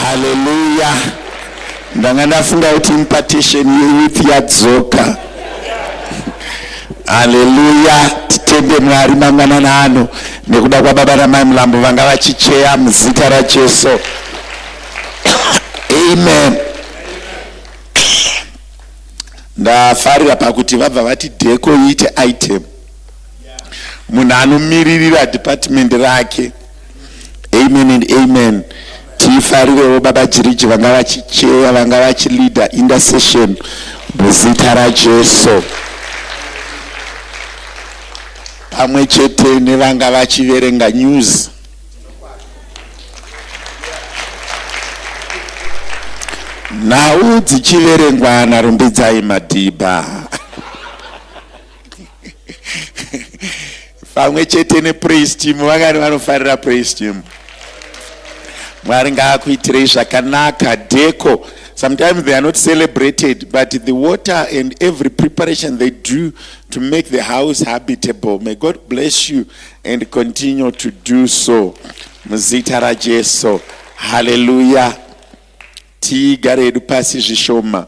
haleluya ndanga ndafunga kuti impartation yeyouth yadzoka haleluya titende mwari mangwanana ano nekuda kwababa namai mulambo vanga vachicheya muzita rajesu amen ndafarira pakuti vabva vati dheko iite item munhu anomiririra department rake amen and amen tifarirewo baba jiriji vanga vachicheya vanga vachileader intercession muzita rajesu pamwe chete nevanga vachiverenga news nhau dzichiverengwa narumbidzai madhibha pamwe chete nepraise team vangani vanofarira praise team mwari ngaakuitirei zvakanaka deko sometimes they are not celebrated but the water and every preparation they do to make the house habitable may god bless you and continue to do so muzita rajesu haleluya tigare hedu pasi zvishoma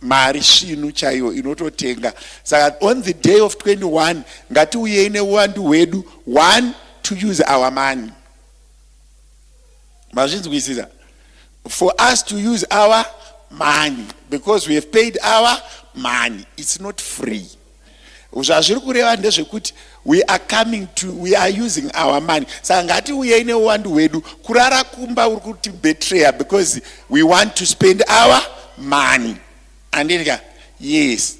mari svinu chaiyo inototenga saka on the day of 21 ngatiuyei neuwandu hwedu one to use our money mazvinzwisisa for us to use our money because we have paid our money it's not free zvazviri kureva ndezvekuti we are coming to we are using our money saka ngatiuyei neuwandu hwedu kurara kumba uri kuti betreya because we want to spend our money andidya yes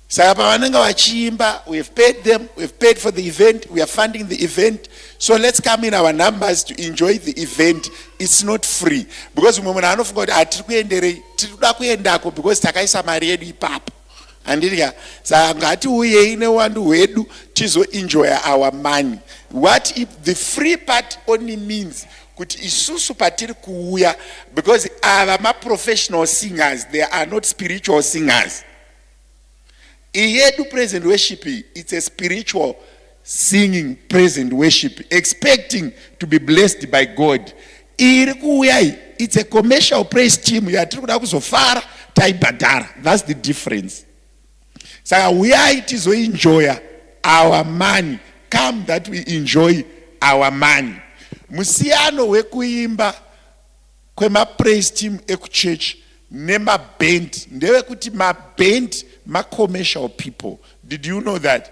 saka pavanenge vachiimba we have paid them we have paid for the event we are funding the event so let's come in our numbers to enjoy the event it's not free because umwe munhu anofunga kuti hatiri kuenderei tiri kuda kuendako because takaisa mari yedu ipapo Handiti ka saka ngatiuyei newandu hwedu tizoenjoya our money. What if the free part only means kuti isusu patiri kuuya because ava maprofessional singers they are not spiritual singers. Iyedu present worship it's a spiritual singing praise and worship expecting to be blessed by god iri kuuya iyi it's a commercial praise team yatiri kuda kuzofara taibhadhara thats the difference saka uyai tizoinjoya our money come that we enjoy our money musiyano wekuimba kwemapraise team ekuchurch nemaband ndewekuti maband macommercial people did you know that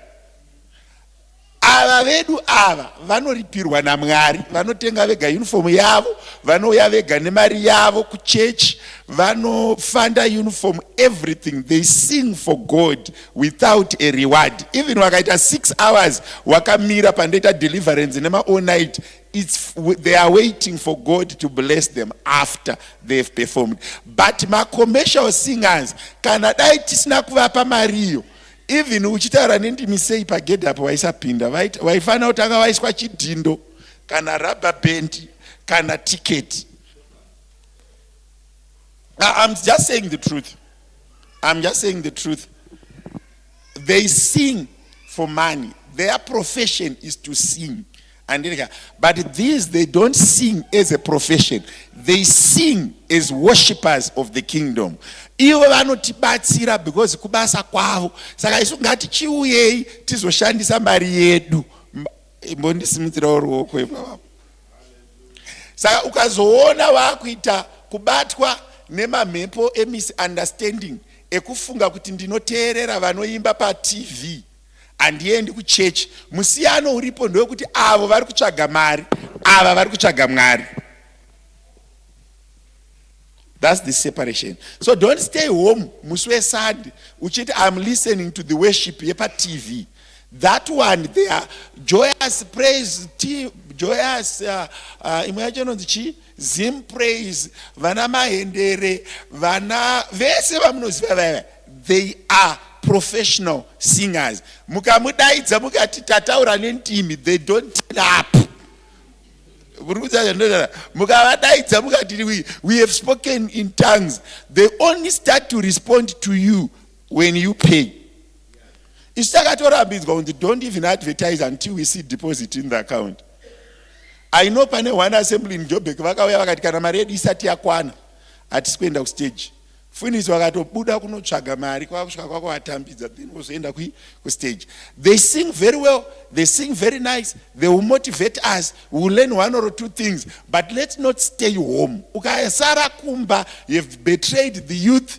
ava vedu ava vanoripirwa namwari vanotenga vega uniform yavo vanouya vega nemari yavo kuchechi vanofanda uniform everything they sing for god without a reward even wakaita six hours wakamira pandoita deliverance nemaonight it's they are waiting for god to bless them after they've performed but macommercial singers kana dai tisina kuvapa mariyo even uchitaura nendimi sei pagedhi apo vaisapinda vaifanira kutanga vaiswa chidhindo kana rubber band kana ticket i'm just saying the truth i'm just saying the truth they sing for money their profession is to sing Andidya but these they don't sing as a profession they sing as worshippers of the kingdom ivo vanotibatsira because kubasa kwavo saka isu ngatichiuyei tizoshandisa mari yedu imbondisimudzirawo ruoko ipavapo saka ukazoona vakuita kubatwa nemamhepo emisunderstanding ekufunga kuti ndinoteerera vanoimba patv handiendi kuchechi musiyano uripo ndewekuti avo vari kutsvaga mari ava vari kutsvaga mwari thats the separation so don't stay home musi wesunday uchiti im listening to the worship yepatv that one they are joyous praise team joyous uh, uh, imwe yacho inonzi chii Zim praise vana mahendere vana vese vamunoziva vaya they are professional singers mukamudaidza mukati tataura nentimi they don't turn up mukavadaidza mukati we have spoken in tongues they only start to respond to you when you pay isu takatorambinzwa kunzi don't even advertise until we see deposit in the account I know pane one assembly in Joburg vakauya vakati kana mari yedu isati yakwana hatisi kuenda kustage. Funis vakatobuda kunotsvaga mari kwakusvika kwako vatambidza then vozoenda kui kustage. They sing very well, they sing very nice, they will motivate us, we will learn one or two things but let's not stay home. Ukasara kumba you've betrayed the youth.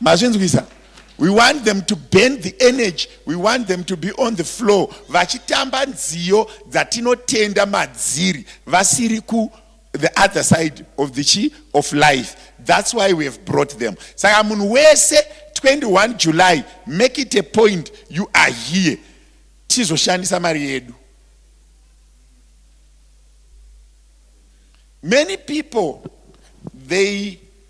mazvinzwisa we want them to burn the energy we want them to be on the floor vachitamba nziyo dzatinotenda madziri vasiri ku the other side of the chi of life that's why we have brought them saka munhu wese 21 july make it a point you are here tizoshandisa mari yedu many people they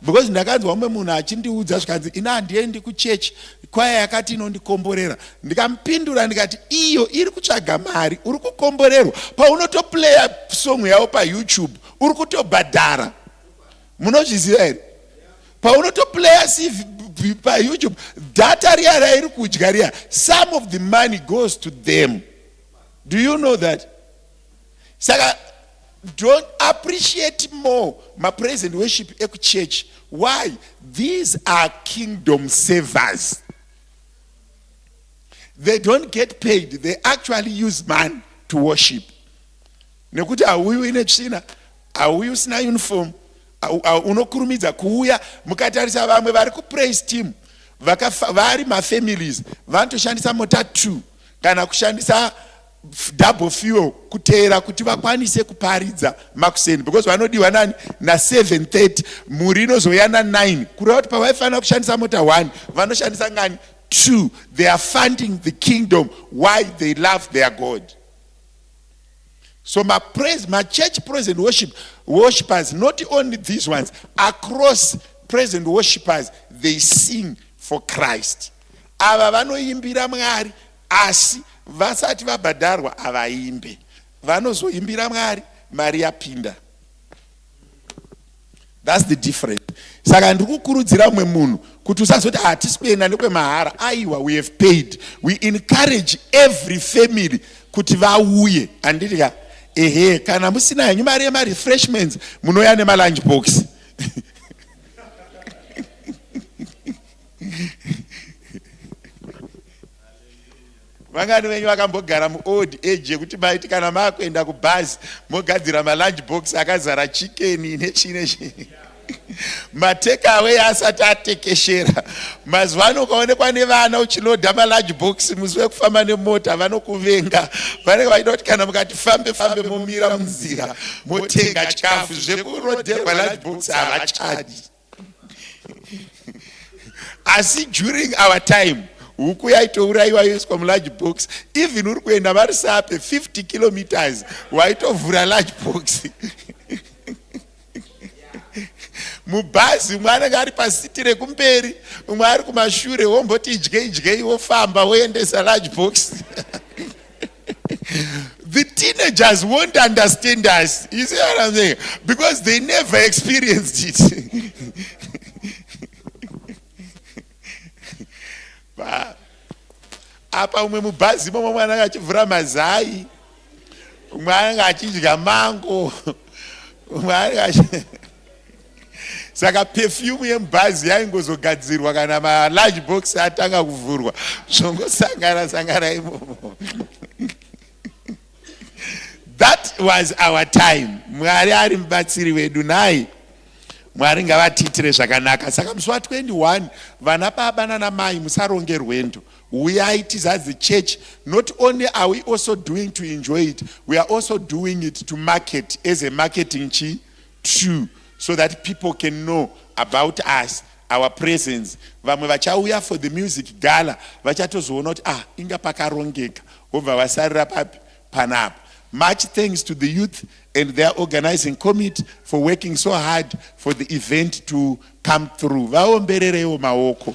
because ndakanzwa umwe munhu achindiudza zvikanzi ini handiendi kuchechi kwaya yakati inondikomborera ndikamupindura ndikati iyo iri kutsvaga mari uri kukomborerwa paunotoplaya song yavo payoutube uri kutobhadhara munozviziva here paunotoplaya payoutube data riya rairi kudya riya some of the money goes to them do you know that saka don't appreciate more mapraise and worship ekuchurch why these are kingdom servers they don't get paid they actually use man to worship nekuti hauyi uine tsvina hauyi usina uniform unokurumidza kuuya mukatarisa vamwe vari kupraise team vari mafamilies vanotoshandisa mota two kana kushandisa double fuel kuteera kuti vakwanise kuparidza makuseni because vanodiwa nani na 730 mhuri inozouya na 9 kureva kuti pavaifanira kushandisa mota 1 vanoshandisa ngani 2 they are funding the kingdom why they love their god so mapraise machurch praise and worship worshippers not only these ones across praise and worshippers they sing for christ ava vanoimbira mwari Asi vasati vabhadharwa havaimbe, vanozoimbira Mwari mari yapinda. That's the difference. Saka ndiri kukurudzira umwe munhu kuti usazoti hatisi kuenda nekwemahara. Aiwa, we have paid. We encourage every family kuti vauye. Handiti ka? Ehe, kana musina henyu mari yemarefreshments munouya nemalunch box. vangani venyu vakambogara muold age yekuti maiti kana makuenda kubhazi mogadzira malunch box akazara chikeni nechii nechii matekawe asati atekeshera mazuva ano ukaonekwa nevana uchiloda malunch box musi wekufamba nemota vanokuvenga vanenge vachida kuti kana mukati fambe fambe momira munzira motenga chikafu zvekuroderwa lunch box havachadi asi during our time huku yaitourayiwa yoiswa mularge box even uri kuenda vari sape 50 kilometers waitovhura large box mubhazi umwe anenge ari pasiti rekumberi umwe ari kumashure womboti idyei dyei wofamba woendesa large box the teenagers won't understand us. You see what I'm saying? Because they never experienced it. apa umwe mubhazi momwe mwana anga achivhura mazai umwe anenge achidya mango umwe anenge saka pefyumu yemubhazi yaingozogadzirwa kana malarge box atanga kuvhurwa zvongosangana sangana imomo that was our time mwari ari mubatsiri wedu nai mwari ngavatiitire zvakanaka saka musi wa 21 vana baba nanamai musaronge rwendo uyai tizas the church not only are we also doing to enjoy it we are also doing it to market as a marketing chi True so that people can know about us our presence vamwe vachauya for the music gala vachatozoona kuti ah inga pakarongeka vobva vasarira papi panapa much thanks to the youth and their organizing committee for working so hard for the event to come through vaomberereiwo maoko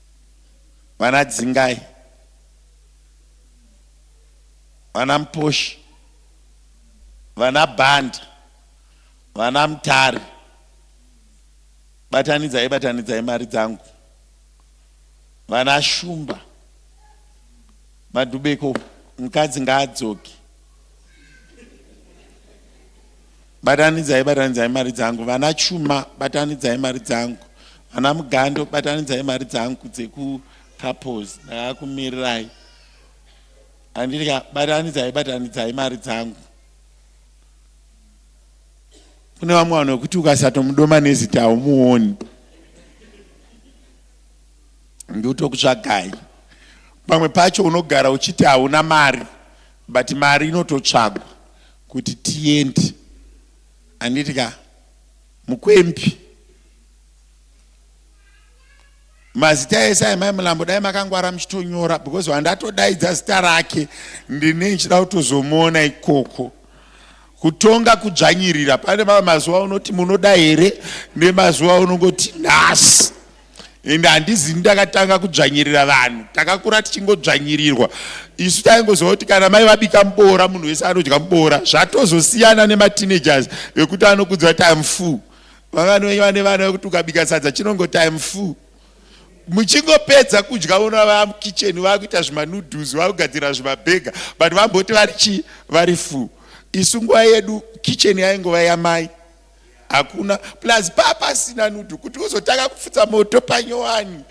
vana dzingai vana muposhi vana bhanda vana mutari batanidzai batanidzai mari dzangu vana shumba madhubeko mukadzi ngaadzoki Batanidzai batanidzai mari dzangu vana chuma batanidzai mari dzangu vana mugando batanidzai mari dzangu dzeku couples ndakakumirirai andidya batanidzai batanidzai mari dzangu kune vamwe vanhu vekuti ukasatomudoma nezita haumuoni ndotokutsvagai pamwe pacho unogara uchiti hauna mari but mari inototsvagwa kuti tiende anditi ka mukwembi mazita ese ayi mai mulambo dai makangwara muchitonyora because wandatodaidza zita rake ndine ndichida kutozomuona ikoko kutonga kudzvanyirira pane mamwe mazuva unoti munoda here nemazuva unongoti nhasi ende handizini ndakatanga kudzvanyirira vanhu takakura tichingodzvanyirirwa isu taingozova kuti kana mai vabika muboora munhu wese anodya muboora zvatozosiyana nemateenagers vekuti anokudza time full vangani venyu vane vana vekuti ukabika sadza chinongo time full muchingopedza kudya vona vamukicheni vakuita zvimanoodles vakugadzira zvimabhega but vamboti vari chii vari full isu nguva yedu kicheni yaingova yamai hakuna plus papasina nudu kuti uzotanga kupfutsa moto panyowani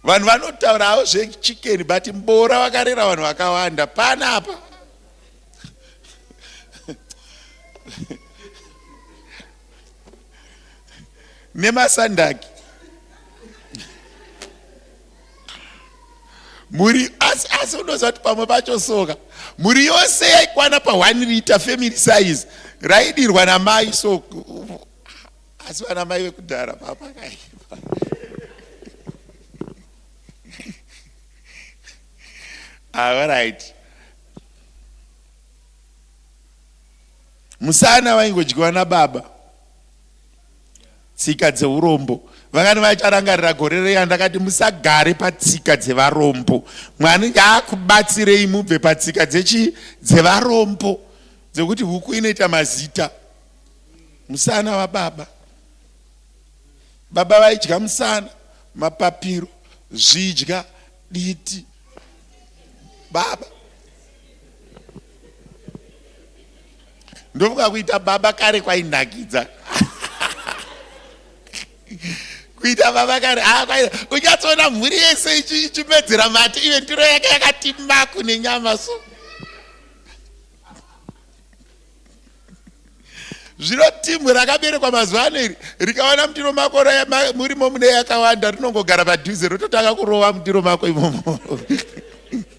vanhu vanotaurawo zvechikeni but mbora vakarera vanhu vakawanda pana apa nemasandaki mhuri asi asi unoziva kuti pamwe pacho soka mhuri yose yaikwana pa1 liter family size raidirwa namai so asi vana mai vekudhara papakaipa alright ah, musana vaingodyiwa nababa Tsika dzeurombo. Vangani vacharangarira gore reya ndakati musagare patsika dzevarombo. Mwari ngaakubatsirei mubve patsika dzechi dzevarombo dzekuti huku inoita mazita. Musana wababa. Baba vaidya musana, mapapiro, zvidya, diti. Baba ndofunga kuita baba kare kwainakidza kuita baba kare ah, unyatsoona mhuri yese ichimedzera mati ive ndiro yake yakati maku nenyama so zvino timu rakaberekwa mazuva ano iri rikaona mutiro mako murimo mune yakawanda rinongogara padhuze rototanga kurova mutiro mako imomo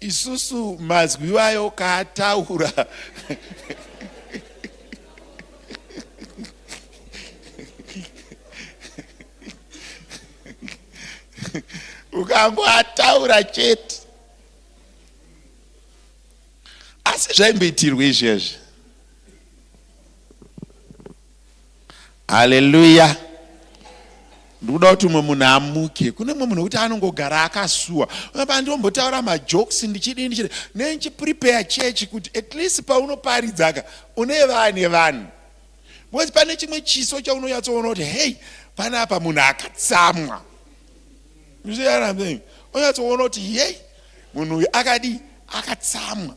Isusu mazwi iwayo kaataura ukangoataura chete asi zvaimboitirwa izvezvi haleluya ndikuda kuti umwe munhu amuke kune mwe munhu wekuti anongogara akasuwa aa ndombotaura majokes ndichidii ndichidi nenchiprepare chechi kuti at least paunoparidzaka une vane vanhu because pane chimwe chiso chaunonyatsoona kuti hei pane apa munhu akatsamwa onyatsoona kuti hei munhu uyu akadii akatsamwa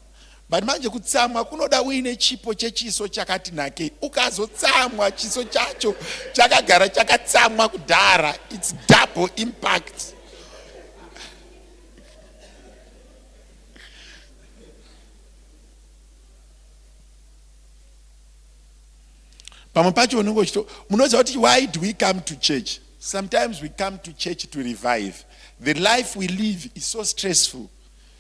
But manje kutsamwa kunoda uine chipo chechiso chakati nakei. Ukazotsamwa chiso chacho chakagara chakatsamwa kudhara. It's double impact. pamwe pacho unenge uchito munoziva kuti why do we come to church sometimes we come to church to revive the life we live is so stressful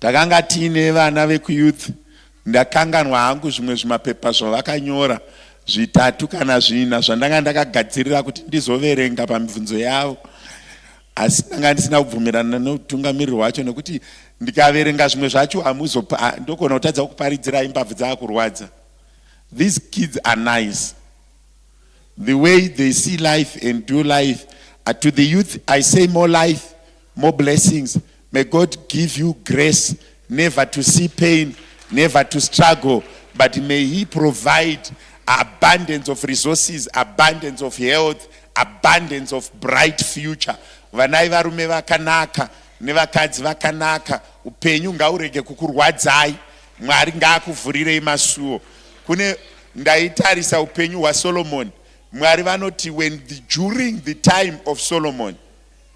Takanga tiine vana vekuyouth ndakanganwa hangu zvimwe zvimapepa zvavakanyora zvitatu kana zvina zvandanga ndakagadzirira kuti ndizoverenga pamibvunzo yavo asi ndanga ndisina kubvumirana neutungamiriri wacho nekuti ndikaverenga zvimwe zvacho hamuzo ndogona kutadza kuparidzirai mbabvu dzaakurwadza these kids are nice the way they see life and do life uh, to the youth i say more life more blessings May God give you grace never to see pain, never to struggle, but may He provide abundance of resources, abundance of health, abundance of bright future. Vanai varume vakanaka nevakadzi vakanaka, upenyu ngaurege kukurwadzai. Mwari ngaakuvhurirei masuo. Kune ndaitarisa upenyu hwaSolomon. Mwari vanoti when the, during the time of Solomon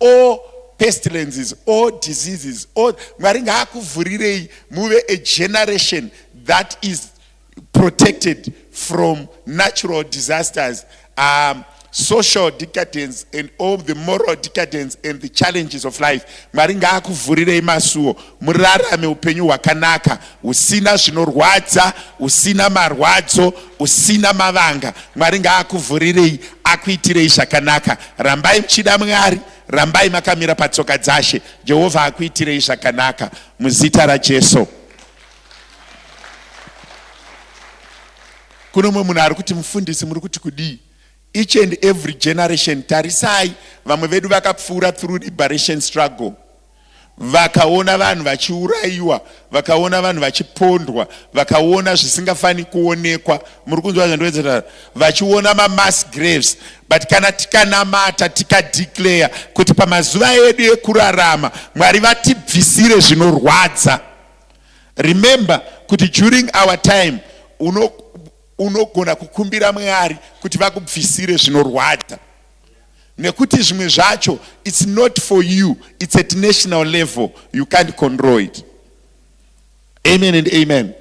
all pestilences all diseases all mwari ngaakuvhurirei muve a generation that is protected from natural disasters um, social decadence and all the moral decadence and the challenges of life mwari ngaakuvhurirei masuo Murarame upenyu hwakanaka, husina zvinorwadza, husina marwadzo, husina mavanga. Mwari ngaakuvhurirei, akuitirei zvakanaka. Rambai muchida Mwari, rambai makamira patsoka dzashe. Jehovha akuitirei zvakanaka muzita raJesu. Kuno mumwe munhu ari kuti mufundisi muri kuti kudii? Each and every generation tarisai vamwe vedu vakapfuura through liberation struggle vakaona vanhu vachiurayiwa vakaona vanhu vachipondwa vakaona zvisingafaniri kuonekwa muri kunzwa zvandinoedzera vachiona mamass graves but kana tikanamata tikadeclare kuti pamazuva edu ekurarama mwari vatibvisire zvinorwadza remember kuti during our time unogona uno kukumbira mwari kuti vakubvisire zvinorwadza nekuti zvimwe zvacho its not for you its at national level you can't control it amen and amen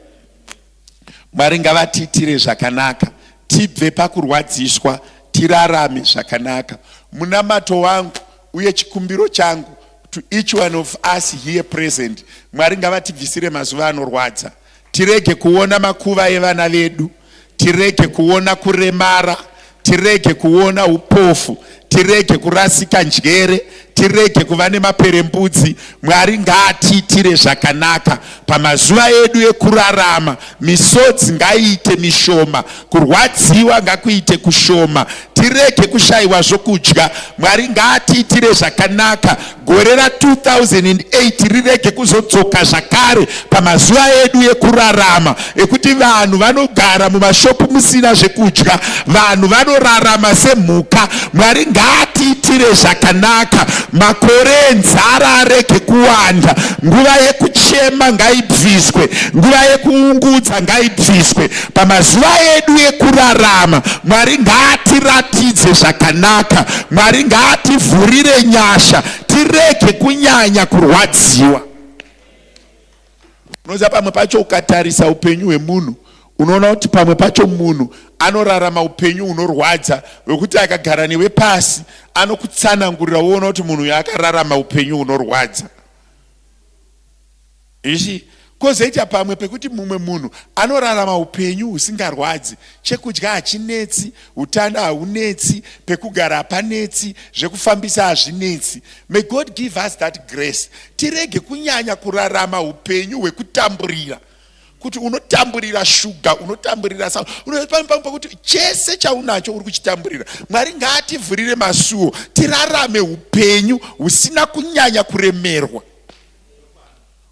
mwari ngavatiitire zvakanaka tibve pakurwadziswa tirarame zvakanaka munamato wangu uye chikumbiro changu to each one of us here present mwari ngavatibvisire mazuva anorwadza Tirege kuona makuva evana vedu, tirege kuona kuremara, tirege kuona upofu, tirege kurasika njere, tirege kuva nemaperembudzi. Mwari ngaatiitire zvakanaka pamazuva edu ekurarama, misodzi ngaiite mishoma Kurwadziwa ngakuite kushoma, tirege kushayiwa zvokudya. Mwari ngaatiitire zvakanaka, gore ra 2008 rirege kuzodzoka zvakare pamazuva edu ekurarama ekuti vanhu vanogara mumashopu musina zvekudya, vanhu vanorarama semhuka. Mwari ngaatiitire zvakanaka, makore enzara arege kuwanda, nguva yekuchema ngaibviswe, nguva yekuungudza ngaibviswe. Pamazuva edu ekurarama, Mwari ngaatiratidze zvakanaka. Mwari ngaativhurire nyasha, tirege kunyanya kurwadziwa. Unoziva pamwe pacho ukatarisa upenyu hwemunhu unoona kuti pamwe pacho munhu anorarama upenyu hunorwadza hwekuti akagara newe pasi anokutsanangurira woona kuti munhu uyo akararama upenyu hunorwadza. You see? Kozoita pamwe pekuti mumwe munhu anorarama upenyu husingarwadzi, chekudya hachinetsi, utano haunetsi, pekugara hapanetsi, zvekufambisa hazvinetsi. May God give us that grace. Tirege kunyanya kurarama upenyu hwekutamburira. Kuti unotamburira shuga, unotamburira sa, unopamwe pamwe pekuti chese chaunacho uri kuchitamburira. Mwari ngaativhurire masuo, tirarame upenyu husina kunyanya kuremerwa.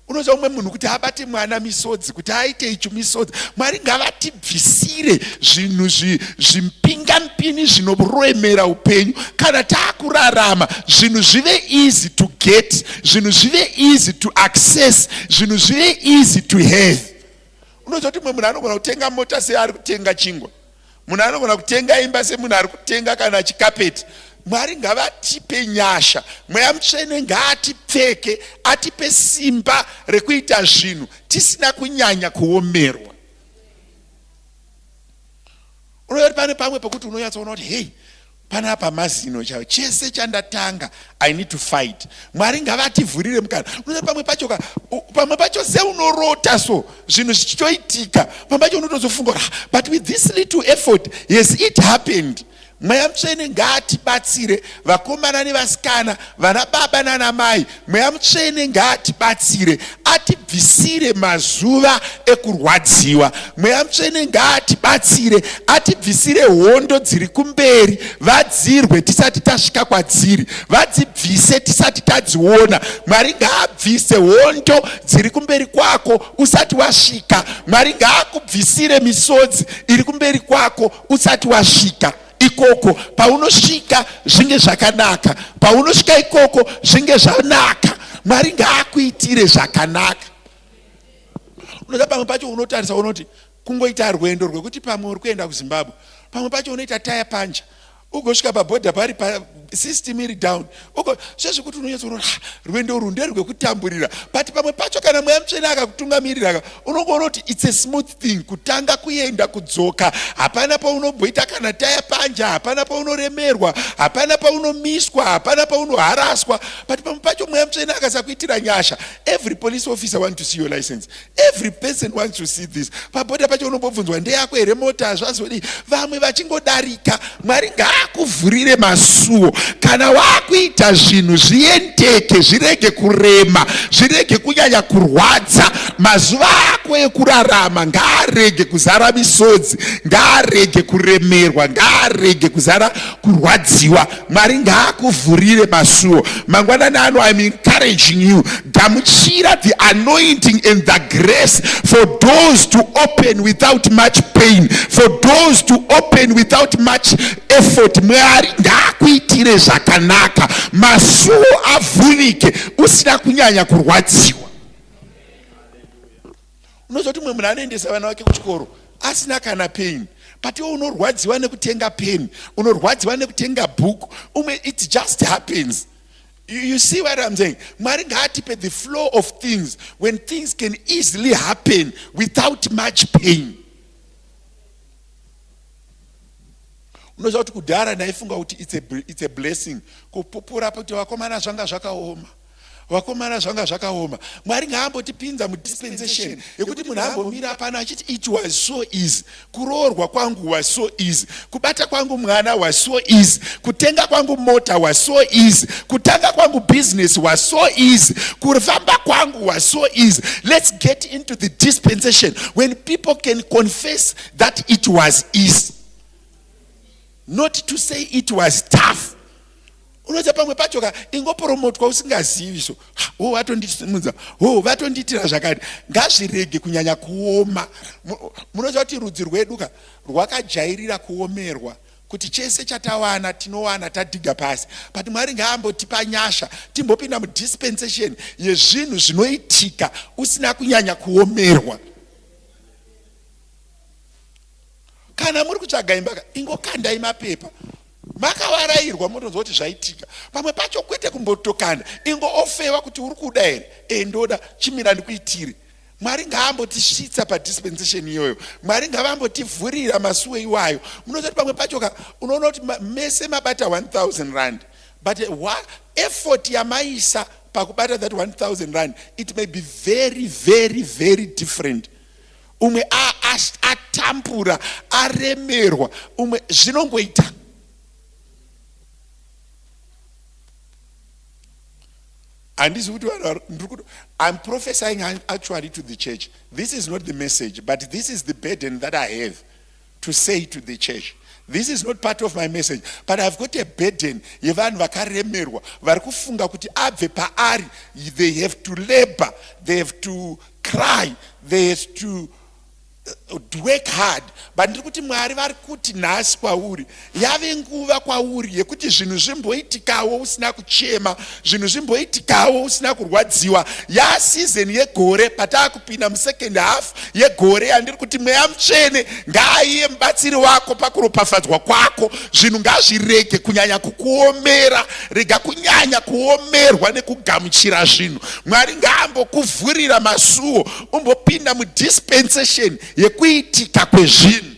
unoziva umwe munhu kuti abate mwana misodzi kuti aite icho misodzi mwari ngavatibvisire zvinhu zvimpingampini zvinoroemera upenyu kana taakurarama zvinhu zvive easy to get zvinhu zvive easy to access zvinhu zvive easy to have unoziva kuti umwe munhu anogona kutenga mota seari kutenga chingwa Munhu anogona kutenga imba semunhu ari kutenga kana chikapeti. Mwari ngavatipe nyasha, mweya mutsvene ngaatipfeke, atipe simba rekuita zvinhu tisina kunyanya kuomerwa. Unoyoti pane pamwe pokuti unonyatsoona kuti hei panapa mazino chaiwo chese chandatanga i need to fight mwari ngavativhurire mukana unoa pamwe pacho ka pamwe pacho seunorota so zvinhu zvichitoitika pamwe pacho unotozofunga ah, but with this little effort yes it happened mweya mutsvene ngaatibatsire vakomana nevasikana vana baba nana mai Mweya mutsvene ngaatibatsire atibvisire mazuva ekurwadziwa. Mweya mutsvene ngaatibatsire atibvisire hondo dziri kumberi, vadzirwe tisati tasvika kwadziri, vadzibvise tisati tadziona. Mwari ngaabvise hondo dziri kumberi kwako usati wasvika. Mwari ngaakubvisire misodzi iri kumberi kwako usati wasvika. ikoko paunosvika zvinge zvakanaka paunosvika ikoko zvinge zvanaka mwari ngaakuitire zvakanaka unoda pamwe pacho unotarisa unoti kungoita rwendo rwekuti pamwe uri kuenda kuzimbabwe pamwe pacho unoita taya panja ugosvika pabhodha pari system iri down uko sezvekuti unonyatsa unoona ah, rwendo urwu nderwekutamburira but pamwe pacho kana mweya mutsvene akakutungamirira unongoona kuti its a smooth thing kutanga kuenda kudzoka hapana paunobhoita kana taya panja hapana paunoremerwa hapana paunomiswa hapana paunoharaswa but pamwe pacho mweya mutsvene akasakuitira nyasha every police officer want to see your license every person wants to see this pabhodha pacho unombobvunzwa ndeyako here mota hazvazodii vamwe vachingodarika mwari ngaakuvhurire masuwo kana waakuita zvinhu zviendeke zvirege kurema zvirege kunyanya kurwadza mazuva ako ekurarama ngaarege kuzara misodzi ngaarege kuremerwa ngaarege kuzara kurwadziwa Mwari ngaakuvhurire masuo mangwanani ano. I'm encouraging you, gamuchira the anointing and the grace for doors to open without much pain, for doors to open without much effort. Mwari ngaakuitire zvakanaka, masuo avhurike usina kunyanya kurwadziwa. unozoti umwe munhu anoendesa vana vake kuchikoro asina kana peni but iwe unorwadziwa nekutenga peni unorwadziwa nekutenga bhuku umwe it just happens you, you see what i'm saying mwari ngaatipe the flow of things when things can easily happen without much pain unoziva kuti kudhara ndaifunga kuti it's a, it's a blessing kupupura kuti vakomana zvanga zvakaoma Vakomana zvanga zvakaoma. Mwari ngaambotipinza mu dispensation yekuti munhu ambomira pano achiti it was so easy. Kuroorwa kwangu was so easy. Kubata kwangu mwana was so easy. Kutenga kwangu mota was so easy. Kutanga kwangu business was so easy. Kufamba kwangu was so easy. Let's get into the dispensation when people can confess that it was easy. Not to say it was tough. unoza pamwe pacho ka ingoporomotwa usingazivi so ho vatondisimudza ho vatondiitira zvakati ngazvirege kunyanya kuoma munoza kuti rudzi rwedu ka rwakajairira kuomerwa kuti chese chatawana tinowana tadhiga pasi but mwari ngaambotipa nyasha timbopinda mudispensation yezvinhu zvinoitika usina kunyanya kuomerwa kana muri kutsvaga imba ka ingokandai mapepa Makavarairwa motonzwa kuti zvaitika pamwe pacho kwete kumbotokana ingo ofewa kuti uri kuda here ee ndoda chimira ndikuitire Mwari ngaambotisvitsa padispensation iyoyo Mwari ngavambotivhurira masuwe iwayo munozoti pamwe pacho ka unoona kuti mese mabata 1000 rand but wa, effort yamaisa pakubata that 1000 rand it may be very very very different umwe atambura aremerwa umwe zvinongoita handizi kuti vanhu i'm prophesying actually to the church this is not the message but this is the burden that i have to say to the church this is not part of my message but ihave got a burden yevanhu vakaremerwa vari kufunga kuti abve paari they have to labor they have to cry they have to uh, work hard but ndiri kuti mwari vari kuti nhasi kwauri yave nguva kwauri yekuti zvinhu zvimboitikawo usina kuchema zvinhu zvimboitikawo usina kurwadziwa yaa season yegore pataa kupinda musecond half yegore yandiri kuti mweya mutsvene ngaaiye mubatsiri wako pakuropafadzwa kwako zvinhu ngazvirege kunyanya kukuomera rega kunyanya kuomerwa nekugamuchira zvinhu mwari ngaambokuvhurira masuwo umbopinda mudispensation yekuitika kwezvinhu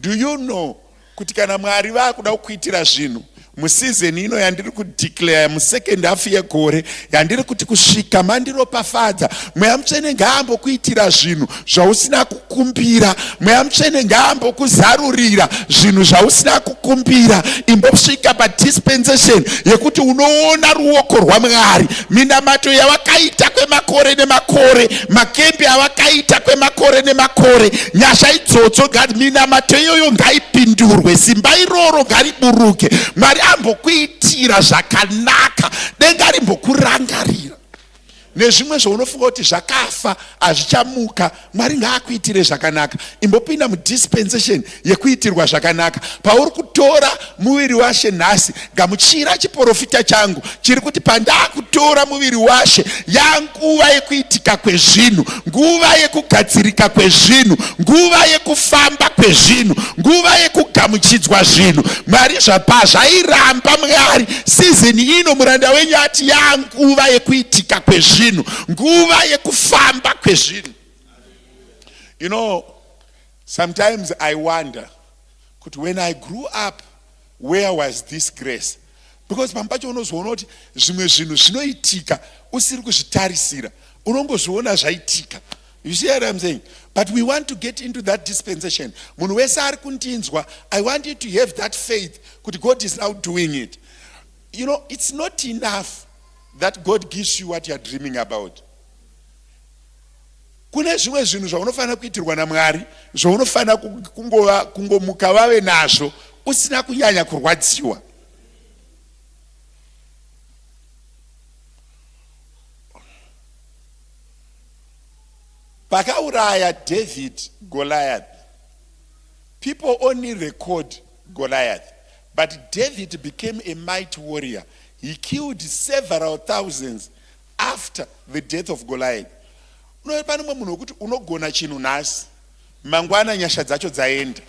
Do you know kuti kana Mwari vakuda kukuitira zvinhu museason ino yandiri kudeclare musecond half yegore yandiri kuti kusvika mandiropafadza mweya mutsvene ngaambokuitira zvinhu zvausina kukumbira mweya mutsvene ngaambokuzarurira zvinhu zvausina kukumbira imbosvika padispensation yekuti unoona ruoko rwamwari minamato yawakaita kwemakore nemakore makembi awakaita kwemakore nemakore nyasha idzodzo gad minamato iyoyo ngaipindurwe simba iroro ngariburuke mwari ambokuitira zvakanaka denga rimbokurangarira nezvimwe zvaunofunga kuti zvakafa hazvichamuka mwari ngaakuitire zvakanaka imbopinda mudispensation yekuitirwa zvakanaka. Pauri kutora muviri washe nhasi, gamuchira chiporofita changu chiri kuti pandakutora muviri washe, yanguva yekuitika kwezvinhu, nguva yekugadzirika kwezvinhu, nguva yekufamba kwezvinhu, nguva yekugamuchidzwa zvinhu. Mwari zvapa zvairamba Mwari sizini ino, muranda wenyu ati yanguva yekuitika kwezvinhu, nguva yekufamba kwezvinhu. You know, Sometimes I wonder kuti when I grew up where was this grace because pamwe pacho unozoona kuti zvimwe zvinhu zvinoitika usiri kuzvitarisira unongozviona zvaitika you see what I'm saying but we want to get into that dispensation munhu wese ari kundinzwa I want you to have that faith kuti God is now doing it you know it's not enough that God gives you what you are dreaming about Kune zvimwe zvinhu zvaunofanira kuitirwa naMwari zvaunofanira kungova kungomuka vave nazvo usina kunyanya kurwadziwa. Pakauraya David Goliath, people only record Goliath, but David became a mighty warrior. He killed several thousands After the death of Goliath unove pane umwe munhu wekuti unogona chinhu nhasi mangwana nyasha dzacho dzaenda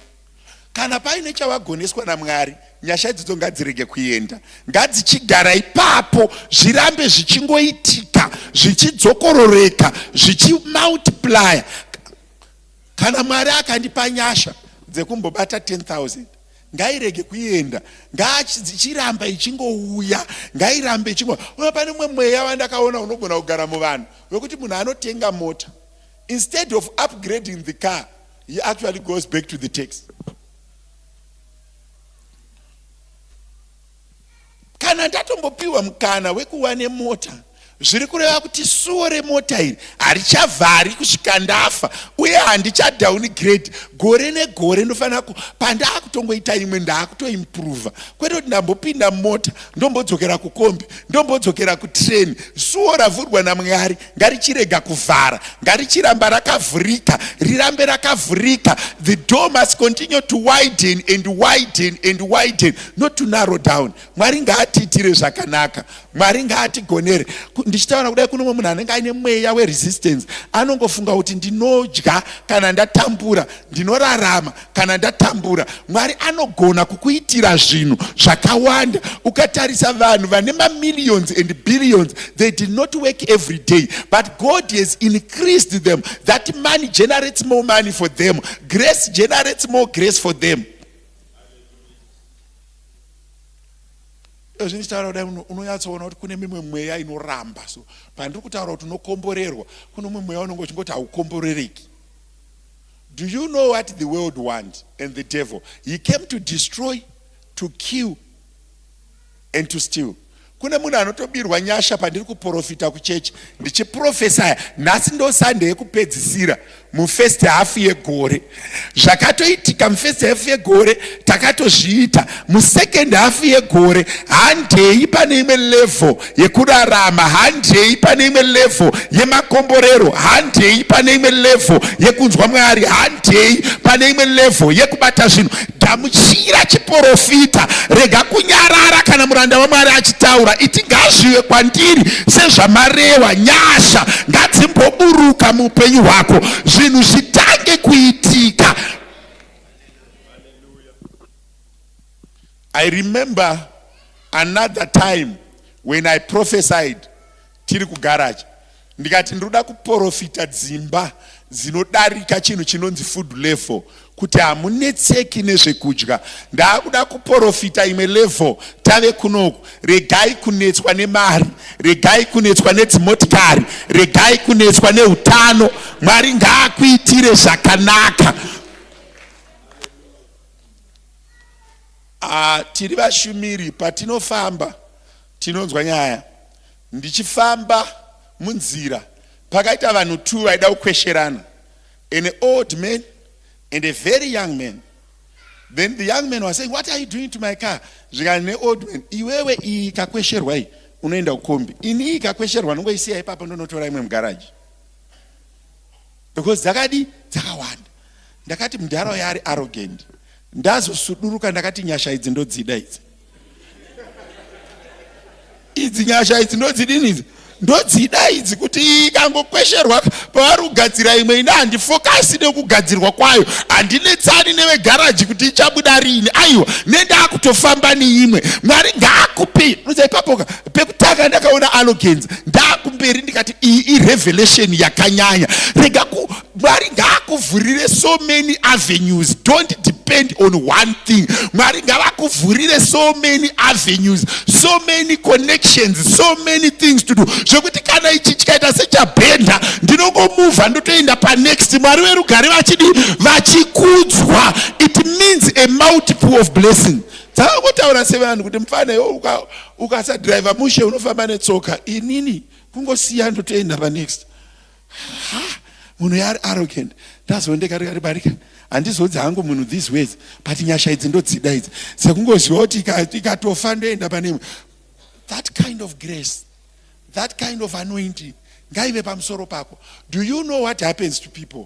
kana paine chavagoneswa namwari nyasha idzidzo ngadzirege kuenda ngadzichigara ipapo zvirambe zvichingoitika zvichidzokororeka zvichimultiplya kana mwari akandipa nyasha dzekumbobata 10 000 ngairege kuenda ngaichiramba ichingouya ngairambe ichingo uye pane umwe mweya vandakaona unogona kugara muvanhu wekuti munhu anotenga mota instead of upgrading the car he actually goes back to the tax kana ndatombopiwa mukana wekuva nemota zviri kureva kuti suwo remota iri harichavhari kusvika ndafa uye handichadown grade gore negore ndofanira ku pandaakutongoita imwe ndaakutoimprova kwete kuti ndambopinda mota ndombodzokera kukombi ndombodzokera kutrain suwo ravhurwa namwari ngarichirega kuvhara ngarichiramba rakavhurika rirambe rakavhurika the door must continue to widen and widen and widen not to narrow down mwari ngaatiitire zvakanaka mwari ngaatigonere ndichitaura kudai kunomwe munhu anenge aine mweya weresistance anongofunga kuti ndinodya kana ndatambura ndinorarama kana ndatambura mwari anogona kukuitira zvinhu zvakawanda ukatarisa vanhu vane mamillions and billions they did not work every day but god has increased them that money generates more money for them grace generates more grace for them ezvi ndichitaura kudai unonyatsoona kuti kune mimwe mweya inoramba so pandiri kutaura kuti unokomborerwa kune umwe mweya unenge uchingoti haukomborereki Do you know what the world want and the devil he came to destroy to kill and to steal kune munhu anotobirwa nyasha pandiri kuprofita kuchechi ndichiprofesaya nhasi ndo sande yekupedzisira mufirst half yegore zvakatoitika mufirst half yegore takatozviita musecond half yegore handei pane imwe level yekurarama handei pane imwe level yemakomborero handei pane imwe level yekunzwa mwari handei pane imwe level yekubata zvinhu gamuchira chiporofita rega kunyarara kana muranda wamwari achitaura iti ngazvive kwandiri sezvamarewa nyasha ngadzimboburuka muupenyu hwako zvinhu zvitange kuitika I remember another time when I prophesied tiri kugarage ndikati ndinoda kuprofita dzimba dzinodarika chinhu chinonzi food level kuti hamunetseki nezvekudya ndaakuda kuprofita imwe level tave kunoku regai kunetswa nemari regai kunetswa nedzimotikari regai kunetswa neutano mwari ngaakuitire zvakanaka Ah, tiri vashumiri patinofamba tinonzwa nyaya. Ndichifamba munzira pakaita vanhu two vaida kukwesherana. An old man and a very young man. Then the young man was saying, what are you doing to my car? Zvikanzi neold man, iwewe iyi ikakwesherwa iyi unoenda kukombi. Ini iyi ikakwesherwa ndongoisiya ipapa ndonotora imwe mugaraji. because dzakadi dzakawanda ndakati mudhara uya ari arrogant ndazosuduruka ndakati nyasha idzi ndodzida idzi idzi nyasha idzi ndodzidini idzi ndodzida idzi kuti ikangokwesherwa pavari kugadzira imwe ine handifokasi nekugadzirwa kwayo handinetsani nevegaraji kuti ichabuda riini aiwa nendakutofamba neimwe mwari ngaakupi uza ipapoka pekutanga ndakaona alogens ndakumberi ndikati iyi irevelation yakanyanya rega ku mwari ngaakuvhurire so many avenues don't depend on one thing mwari ngavakuvhurire so many avenues so many connections so many things to do zvekuti kana ichi chikaita sechabhenda ndinongomuvha ndotoenda panext mwari verugare vachidi vachikudzwa it means a multiple of blessing dzakangotaura sevanhu kuti mufana iwo Ukasadriver mushe unofamba netsoka inini kungosiya ndotoenda panext. Ha, munhu yaari arrogant ndazoendeka rikati barika handizodzi hangu munhu these words but nyasha idzi ndodzida idzi sekungoziva kuti ikatofa ndoenda pane that kind of grace that kind of anointing ngaive pamusoro pako do you know what happens to people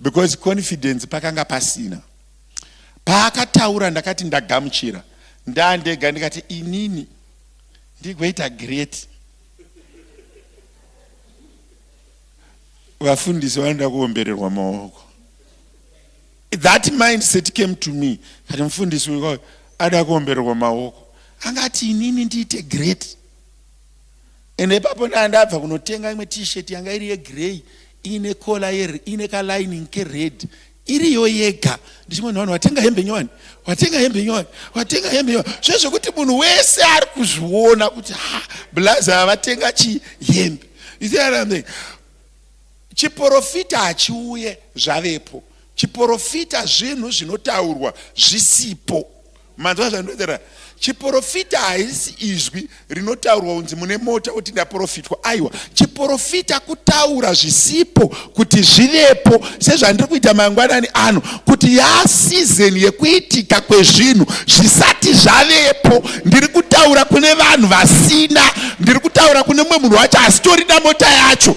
because confidence pakanga pasina paakataura ndakati ndagamuchira ndandega ndikati inini ndigoita great vafundisi vanoda kuombererwa maoko that mindset came to me kati mufundisi uyo ada kuombererwa maoko angati inini ndiite great ende ipapo ndanga ndabva kunotenga imwe t-shirt yanga iri yegrey iine kola iine kalining kered iriyo yega ndichimwe nhuvanhu watenga hembe nyowani watenga hembe nyowani watenga hembe nyowani zvezvekuti munhu wese ari kuzviona kuti ha blazi ava vatenga chii hembe isiarambe chiporofita hachiuye zvavepo chiporofita zvinhu zvinotaurwa zvisipo Manzwa zvandotaura chiporofita haisi izwi rinotaurwa unzi mune mota kuti ndaporofitwa aiwa chiporofita kutaura zvisipo kuti zvivepo sezvandiri kuita mangwanani ano kuti yaasizeni yekuitika kwezvinhu zvisati zvavepo ndiri kutaura kune vanhu vasina ndiri kutaura kune mumwe munhu wacho asitorida mota yacho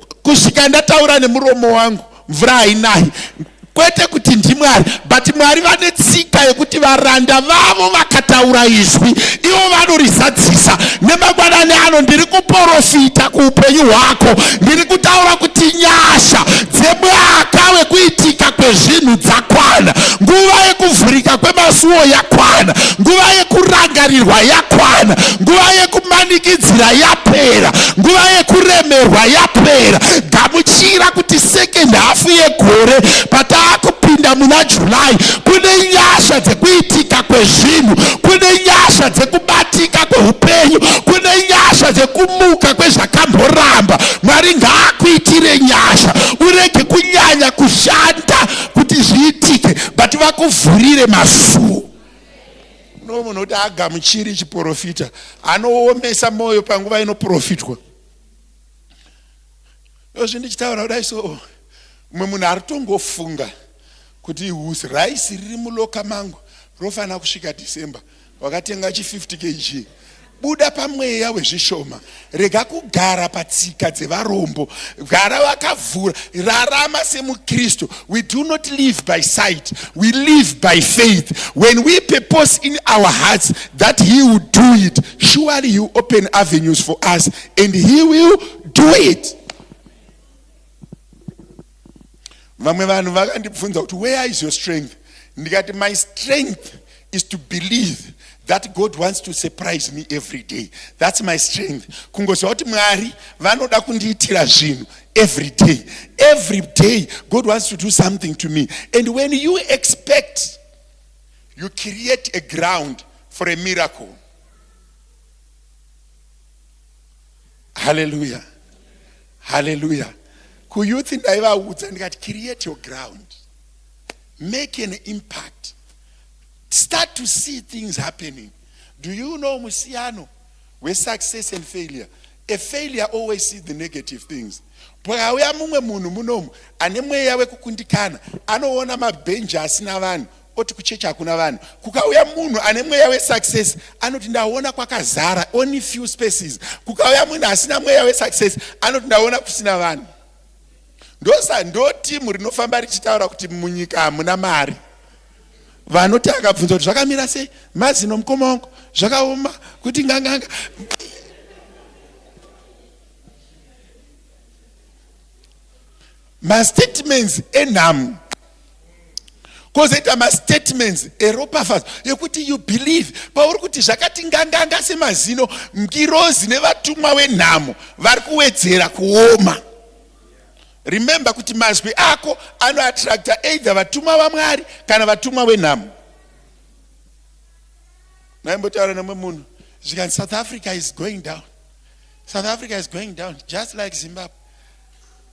kusvika ndataura nemuromo wangu mvura hainahi kwete kuti ndimwari but mwari vane tsika yekuti varanda vavo vakataura izwi ivo vanorizadzisa nemangwanani ano ndiri kuporofita kuupenyu hwako ndiri kutaura kuti nyasha dzemwaka wekuitika kwezvinhu dzakwana nguva yekuvhurika kwemasuwo yakwana nguva yekurangarirwa yakwana nguva yekumanikidzira yapera nguva yekuremerwa yapera gamuchira kuti second half yegore pataakupinda muna july kune nyasha dzekuitika kwezvinhu kune nyasha dzekubatika kweupenyu kune nyasha dzekumuka kwezvakamboramba mwari ngaakuitire nyasha urege kunyanya kushanda kuti zviitike but vakuvhurire masuo No munhu kuti agamuchiri chiporofita anoomesa moyo panguva inoprofitwa yozvi ndichitaura kudai so mumwe munhu ari tongofunga kuti husi raisi riri muloka mangu rofanira kusvika december wakatenga chi 50 kg buda pamweya wezvishoma rega kugara patsika dzevarombo gara wakavhura rarama semukristu we do not live by sight we live by faith when we purpose in our hearts that he will do it surely he will open avenues for us and he will do it vamwe vanhu vakandibvunza kuti where is your strength ndikati my strength is to believe that god wants to surprise me every day thats my strength kungoziva kuti mwari vanoda kundiitira zvinhu every day every day god wants to do something to me and when you expect you create a ground for a miracle haleluya haleluya kuyouth ndaivaudza ndikati create your ground make an impact start to see things happening do you know musiyano wesuccess and failure a failure always see the negative things pakauya mumwe munhu munomu ane mweya wekukundikana anoona mabhenji asina vanhu oti kuchechi hakuna vanhu kukauya munhu ane mweya wesuccess anoti ndaona kwakazara only few spaces kukauya munhu asina mweya wesuccess anoti ndaona kusina vanhu ndosa ndo timu rinofamba richitaura kuti munyika hamuna mari vanoti akabvunza kuti zvakamira sei mazino mukoma wangu zvakaoma kuti nganganga mastatements enhamo kozoita mastatements eropafadzo yekuti you believe pauri kuti zvakati nganganga semazino ngirozi nevatumwa wenhamo vari kuwedzera kuoma remember kuti mazwi ako anoattracta either vatumwa vamwari kana vatumwa wenhamo maimbotaura nemwe munhu zvikanzi south africa is going down south africa is going down just like zimbabwe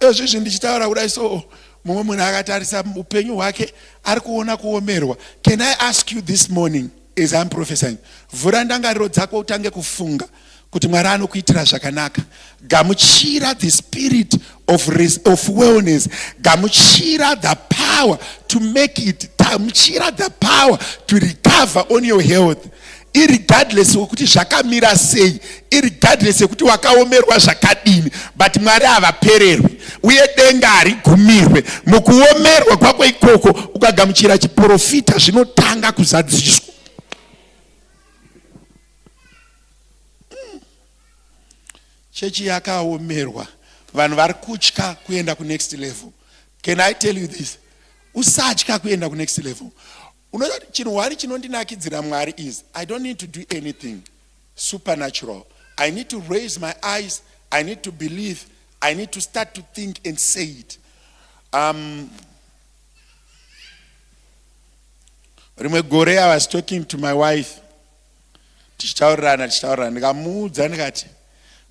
ezvizvi ndichitaura kudai so mumwe munhu akatarisa upenyu hwake ari kuona kuomerwa can i ask you this morning as im profesying vhura ndangariro dzako utange kufunga kuti mwari anokuitira zvakanaka gamuchira the spirit of, of wellness gamuchira the power to make it gamuchira the power to recover on your health irregardless wekuti zvakamira sei irregardless yekuti wakaomerwa zvakadini but mwari havapererwi uye denga harigumirwe mukuomerwa kwako ikoko ukagamuchira chiprofita zvinotanga kuzadziswa hmm. chechi yakaomerwa vanhu vari kutya kuenda kunext level can i tell you this usatya kuenda kunext level Unoziva kuti chinhu hwani chinondinakidzira Mwari is I don't need to do anything supernatural. I need to raise my eyes, I need to believe, I need to start to think and say it. Um, rimwe gore I was talking to my wife tichitaurirana tichitaurirana ndikamuudza ndikati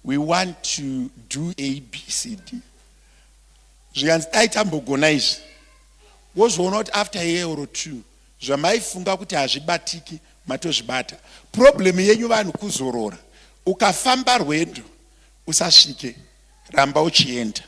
we want to do abcd zvikanzi dai tambogona izvi wozoona kuti after year or two zvamaifunga kuti hazvibatiki matozvibata problem yenyu vanhu kuzorora ukafamba rwendo usasvike ramba uchienda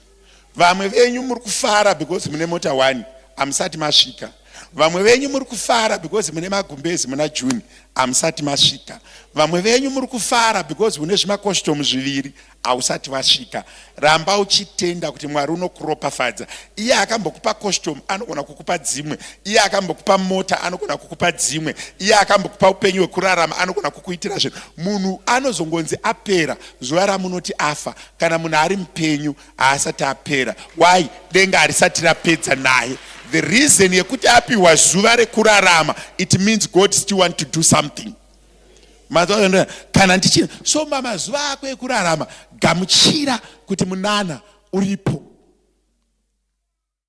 vamwe venyu muri kufara because mune mota one hamusati masvika vamwe venyu muri kufara because mune magumbezi muna june hamusati masvika vamwe venyu muri kufara because mune zvimakostomu zviviri Hausati wasvika. Ramba uchitenda kuti Mwari unokuropafadza. Iye akambokupa costume anogona kukupa dzimwe. Iye akambokupa mota anogona kukupa dzimwe. Iye akambokupa upenyu hwekurarama anogona kukuitira zvinhu. Munhu anozongonzi apera zuva ramunoti afa. Kana munhu ari mupenyu haasati apera. Why? Denga harisati rapedza naye. The reason yekuti apiwa zuva rekurarama it means God still want to do something. mazaoenda kana ndichina so mamazuva ako ekurarama gamuchira kuti munana uripo